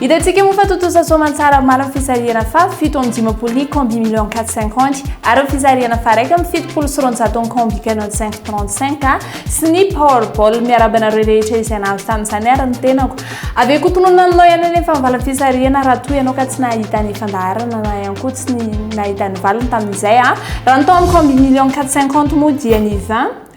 Hitantsika moa fa tontosa soamantsara maro amin'ny fisarihana fa fito amby dimampolo ny combi million quatre cinquante ary ny fisarihana fa raika amby fitopolo sy roanjato ny combi canon cinq trente cinq sy ny powerball. Miarahaba anareo rehetra izay nahazo tamin'izany ary ny tenako. Avy eo koa tononina aminao ihany anefa ny valin'ny fisarihana raha toa ianao ka tsy nahita ny fandaharana na ihany koa tsy nahita ny valiny tamin'izay. Raha ny tao amin'ny combi million quatre cinquante moa dia ny vingt.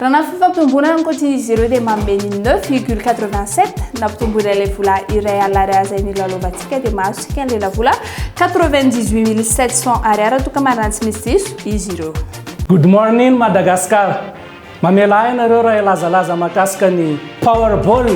Raha na fifampitombonana ankoatra izy ireo dia manome ny neuf virgule quatre-vingt-sept na mpitomboina ilay vola iray alina Ar izay nilalaovantsika dia mahazo isika ny lelavola quatre-vingt-dix-huit mille sept cents Ar raha toa ka marina tsy misy diso izy ireo. Good morning Madagascar! Mamela ahy ianareo raha hilazalaza mahakasika ny Powerball,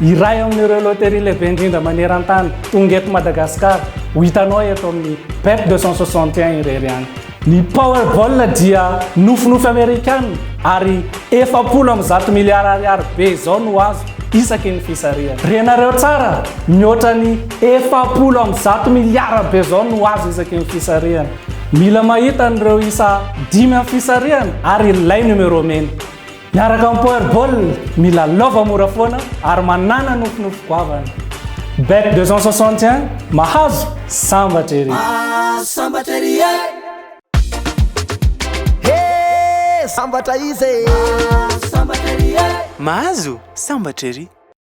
iray amin'ireo loterie lehibe indrindra maneran-tany, tonga eto Madagascar, ho hitanao eto amin'ny Bet deux cent soixante et un irery ihany. Ny Powerball dia nofinofy Amerikana ary efapolo amby zato miliara ariary be izao no azo isaky ny fisarihana. Renareo tsara, mihoatra ny efapolo amby zato miliara be izao no azo isaky ny fisarihana. Mila mahita an'ireo isa dimy amin'ny fisarihana ary ilay numéro mena. Miaraka amin'ny Power Ball, mila lova mora foana ary manana nofinofy goavana. Bet 261, mahazo, sambatra ery! Ah, sambatra ery e! He, sambatra izy e! Ah, sambatra ery e! Mahazo, sambatra ery!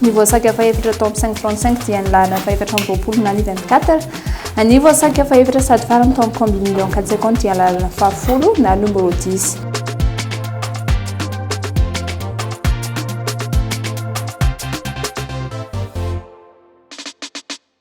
Ny voasarika fahefatra tao amin'ny 535 dia ny laharana fahefatra amby roapolo na ny 24. Ny voasarika fahefatra sady farany tao amin'ny combine million 4 secondes dia ny laharana fahafolo na ny numero 10.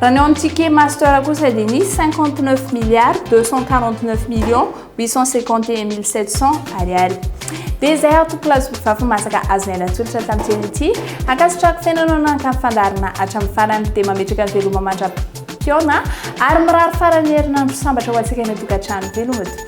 Raha ny ao amin'ny Ticket Master kosa dia nisy 59 milliards 249 millions 851.700 Ariary. Dia izay aho Tompokolahy Zokivafa Masaka azonay natolotra tamin'ny teny ity. Ankasitrahako tena anao nanakana fandaharana hatramin'ny farany dia mametraka ny veloma mandra-pihaona ary mirary faran'ny herinandro sambatra ho antsika any an-tokantrano veloma tompoko.